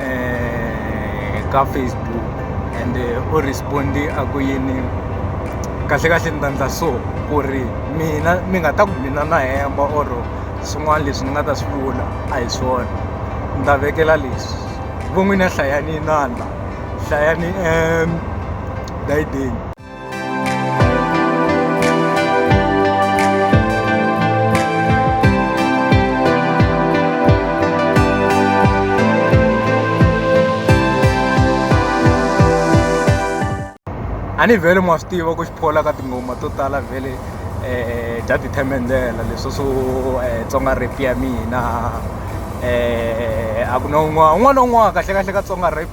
eh, ka facebook and eh, u respondi a ku yini kahle kahle ni ta ndla so ku ri mina mi nga ta ku mina na hemba or swin'wana leswi ni nga ta swi vula a hi swona ni ta vekela leswi vo n'wina hlayani inandla hlayani um dayideni a ni vhele mwa swi tiva ku xiphola ka tinghoma to tala vhele um bya tithemendlela leswo swo um tsonga rap ya mina um a ku na un'wana un'wana na un'wana kahlekahle ka tsonga rap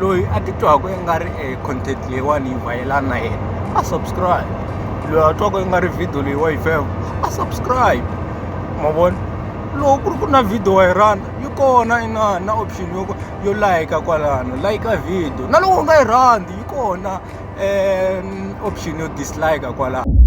loyi a titwaku i nga ri e content leyiwani yi vhayelani na yena a subscribe loyi a twaku i nga ri video leyi wa yi fam a subscribe ma vona loko ku ri ku na video wa yi rhandza yi kona inani na option yo yo layika kwalano layika video na loko u nga yi rhandzi yi kona um option yo dislike kwalano